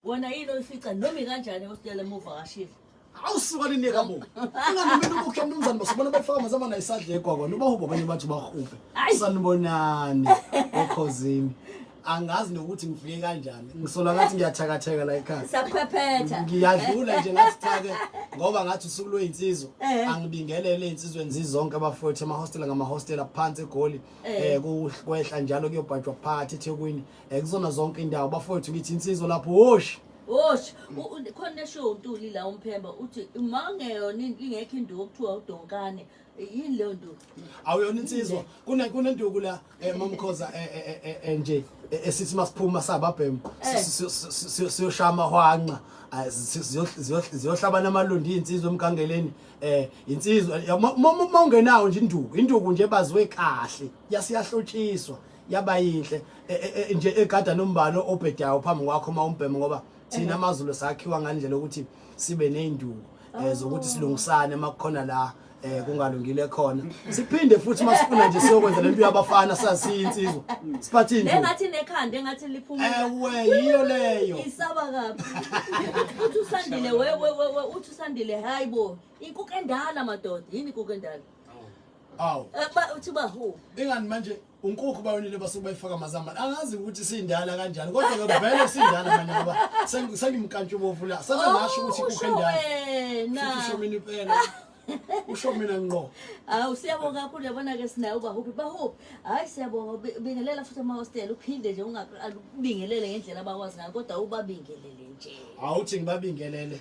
Wona yini oyifica noma ikanjani hostela muvakashile? awusuka linika bo ungamumeli ukukhe mnumzane basibona befaka mazama naye isadla egwagwa nobahuba abanye bathi bahube sanibonani okhozini angazi nokuthi ngifike kanjani ngisola ngathi ngiyathakatheka la ekhaya saphephetha ngiyadlula nje ngathi cha ke ngoba ngathi usuku lweyinsizwa Eh. angibingelele ezinsizweni zizonke abafowethu amahostela ngamahostela phansi egoli Eh. eh ku- kwehla njalo kuyobhajwa phakathi eThekwini ekuzona zonke indawo bafowethu ngithi insizwa lapho woshi Wosh, khona neshow uNtuli la umphemba uthi uma ungeyona ingekho induku kuthiwa udonkane. Yini leyo nduku? Awuyona insizwa. Kune kunenduku la eh, mamkhoza eh, eh, eh, eh, nje eh, esithi masiphuma sababhemu Eh. siyoshaya amahwanqa Ah, si- siyo- siyo- siyohlabana amalundi insizwa emgangeleni eh insizwa ya- ma- ma- ma ungenawo nje induku induku nje baziwe kahle yasiyahlotshiswa yaba yinhle e, e, e, nje egada nombani obhedayo phambi kwakho uma umbheme ngoba thina amazulu sakhiwa ngandlela ukuthi sibe nezinduku eh, zokuthi oh. silungisane makukhona la eh kungalungile khona siphinde futhi masifuna nje siyokwenza lento yabafana sasiyinsizwa siphathini nje engathi nekhanda engathi liphuma ewe yiyo leyo isaba kabi uthi usandile wewe uthi usandile hayibo inkuku endala madoda yini inkuku endala awu eh, uthi bahu ingani manje unkukhu bayonile basuke bayifaka amazambane angazi ukuthi sindala kanjani kodwa ke vele sindala manje ngoba sengimkantsha ubovu la sebe oh, ngasho ukuthi kukho endala usho mina impela usho mina ngqo hawu siyabonga kakhulu yabona ke sinayo ubahuphi bahuphi hayi siyabonga bingelela futhi amahostela uphinde nje ungabingelele ngendlela abakwazi ngayo kodwa ubabingelele nje awuthi ngibabingelele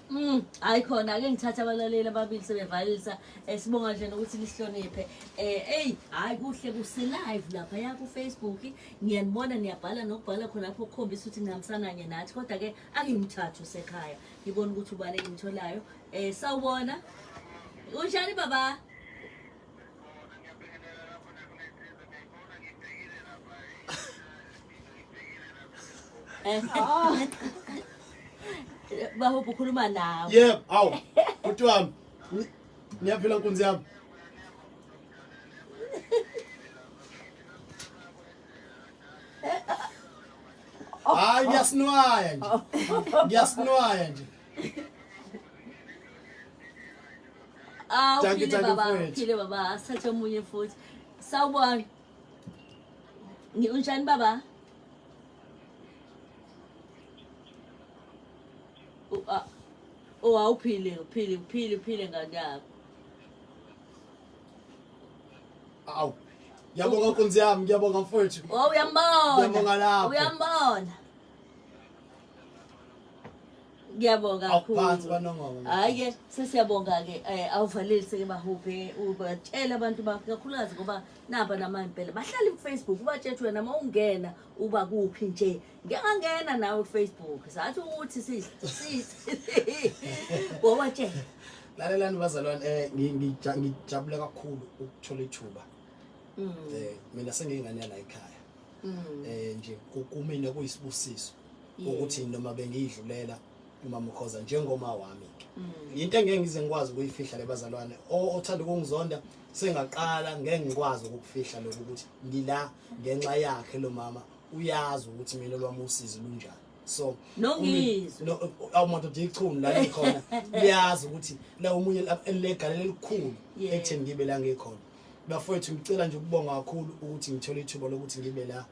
Mm, hayi khona ake ngithatha abalaleli ababili sebevalisa eh, sibonga nje nokuthi lihloniphe eh hey hayi kuhle kuse live lapha ya ku Facebook ngiyanibona niyabhala nokubhala khona lapho ukukhombisa ukuthi ngihambisana nye nathi kodwa ke angimthathu sekhaya ngibona ukuthi ubani engimtholayo eh sawubona unjani baba baho kukhuluma nawe yebo awu bhuti wami ngiyaphila nkunzi yami hayi ngiyasinwaya nje ngiyasinwaya nje Ah, Dankie, uphile dankie, baba, mfwethu. uphile baba, asithathe omunye futhi. Sawubona. Ngi- Unjani baba? U- ah, Oh, awuphile, uphile, uphile, uphile ngane yakho. awu ngiyabonga nkunzi yami ngiyabonga mfowethu Oh, uyambona. Ngiyabonga lapho. Uyambona. ngiyabonga awuphansi kwanongoma hayi ke sesiyabonga ke eh, awuvalelise ke bahuphe ubatshela abantu bakho kakhulukazi ngoba naba namampela bahlala kufacebook ubatshetshe wena uma ungena uba kuphi nje ngiyangangena nawe kufacebook sathi ukuthi wawatshela lalelani bazalwane eh, ngijabule kakhulu ukuthola ithuba um mina sengiyingane yala ekhaya mm. eh nje kumina kuyisibusiso ukuthi noma bengidlulela umama ukhoza njengoma wami ke mm. into engeke ngize ngikwazi ukuyifihla lebazalwane othanda ukungizonda sengaqala ngeke ngikwazi ukufihla lokho ukuthi ngila ngenxa yakhe lo mama uyazi ukuthi mina lwami usizi lunjani so nongizwe no awumuntu ndichunu la ngikhona liyazi ukuthi la umunye legal elikhulu ekutheni ngibe la ngikhona bafowethu ngicela nje ukubonga kakhulu ukuthi ngithole ithuba lokuthi ngibe la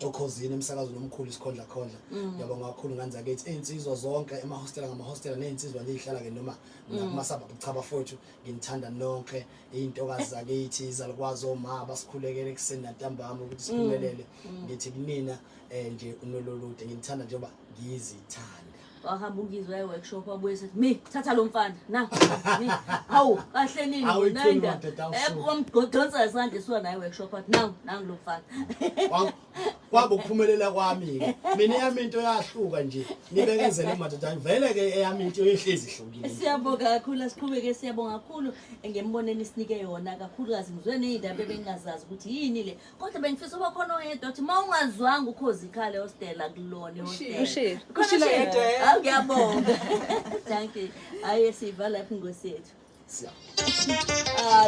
okhozini emsakazweni omkhulu isikhondla khondla mm. ngiyabonga kakhulu ngane zakithi iy'nsizwa zonke emahostela ngamahostela ney'nsizwa nje ey'hlala-ke noma mm. nakumasabhabhu cha bafowethu nginithanda nonke iy'ntokazi zakithi izalukwazi omaba basikhulekele ekuseni nantambama ukuthi siphumelele mm. ngithi kunina um nje unololude nginithanda njengoba ngizithanda wahamba ungizwe waye workshop wabuye sethi mi thatha lo mfana na mi hawu kahle nini nenda wamgqodonsa isandla esiwa naye workshop athi nangu nangu lo mfana kwaba ukuphumelela kwami-ke mina eyami into yahluka nje nibekezele madoda vele-ke eyami into yehlezi ihlukile siyabonga kakhulu asiqhubeke siyabonga kakhulu ngemboneni sinike yona kakhulukazi ngizwe ney'ndaba ebengingazazi ukuthi yini le kodwa bengifisa uba khona oyedwa othi uma ungazwanga ukhozi ikhale hostela kulona ihostelaawuyabonga thank you hayi siyiva lapho ingosi yethu ah,